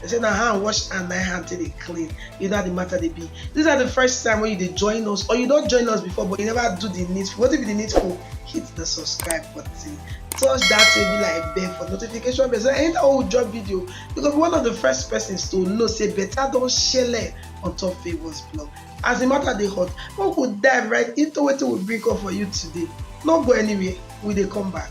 They say na hand wash and na hand take dey clean. You know how the matter dey be. These are the first time when you dey join us or you don join us before but you never do the needful. Wetin be the needful? Hit the subscribe button. Touch that table like bell for notification bell so anytime wey we drop video, you go be one of the first persons to know say better don shele on top Favourz blog. As the matter dey hot, make we dive right into wetin we bring come for you today. No go anywhere, we dey come back.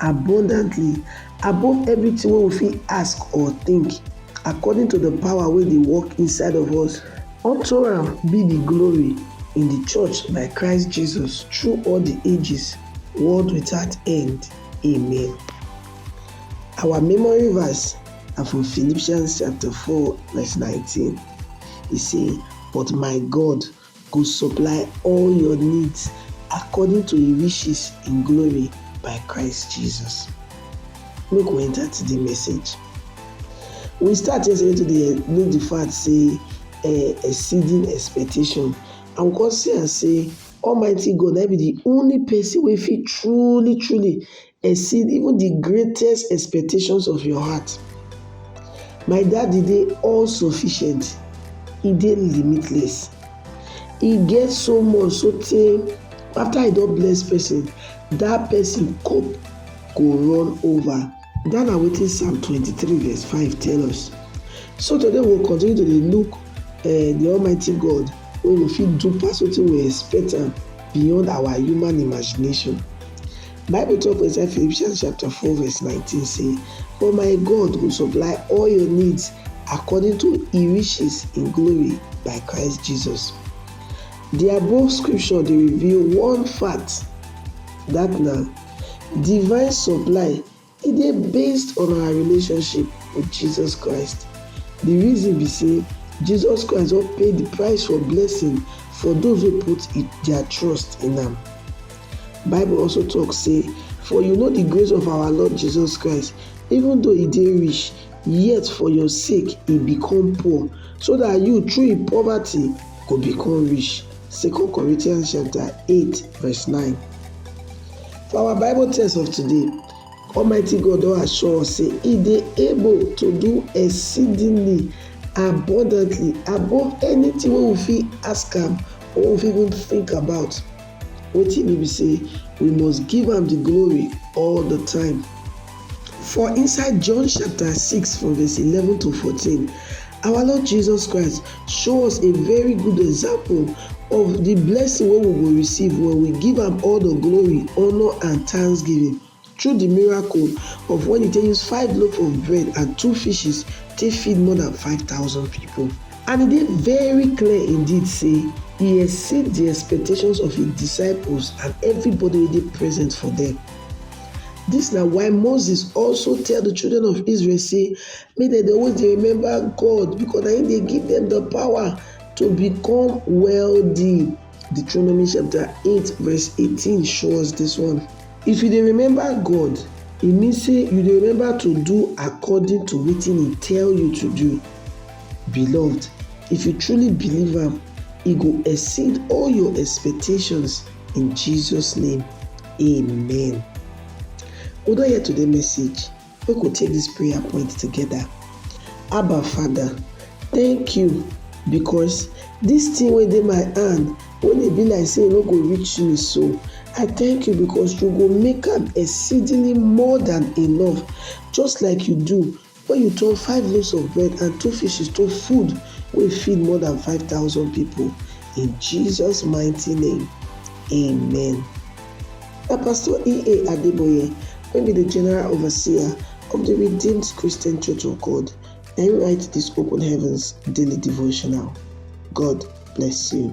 abundantly above everything wey we fit ask or think, according to the power wey dey work inside of us. Unto am be the glory in the church by Christ Jesus through all the ages, world without end. Amen. Our memory verse na from Philippians chapter 4 verse 19. E say, But my God Go supply all your needs according to He riches in glory by Christ Jesus. Make we enter today message. We start yesterday to dey look the fact say eh, exceeding expectation and we come see am say Almighty God na be the only person wey fit truly truly exceed even the greatest expectations of your heart. My daddy dey all sufficient, e dey limitless. E get so much so tey after e don bless person, that person cup go run over. That na wetin Psalm 23 verse 5 tell us. So today we we'll continue to dey look uh, the Almighty God wey go fit do pass wetin we expect am beyond our human imagination. Bible talk for inside Philippians chapter 4 verse 19 say, For my God will supply all your needs according to his riches in glory by Christ Jesus. The above scripture dey reveal one fact that na divine supply E dey based on our relationship with Jesus Christ. Di reason be say Jesus Christ don pay di price for blessing for those wey put dia trust in am. Bible also tok say, For you know di grace of our Lord Jesus Christ, even though e dey rich, yet for your sake e become poor, so dat you through im poverty go become rich. Second Corinthians chapter eight verse nine. For our Bible text of today, Almighty God don assure us say He dey able to do exceedingly abundantly above anything wey we fit ask am or we fit even think about. Wetin e mean be say we must give am the glory all the time. For inside John chapter 6 from verse 11 to 14, our Lord Jesus Christ show us a very good example of the blessing wey we go receive when we give am all the glory, honor and thanksgiving through the miracle of when he take use five loaf of bread and two fishes take feed more than 5,000 people. And e dey very clear indeed say e exceed the expectations of his disciples and everybody wey dey present for them. Dis na why Moses also tell di children of Israel sey make dem dey always dey remember God because na im dey give dem di power to become wealthy. Deuteronomy chapter eight verse eighteen show us dis one. If you dey remember God, e mean sey you dey remember to do according to wetin e tell you to do. Beloved, if you truly believe am, e go exceed all your expectations. In Jesus name, amen. We don hear today message. We go take this prayer point together. Abba Father, thank you because this thing wey dey my hand wey dey be like say e no go reach me so i thank you because you go make am exceedingly more than enough just like you do Wen yu turn five loafs of bread and two fishes to food wey feed more dan five thousand pipol, in Jesus mighty name, amen. Na Pastor E. A. Adeboye wey bi di General Overseer of di Redeemed Christian Church of God na im write dis Open Heavens Daily Devotional. God bless yu.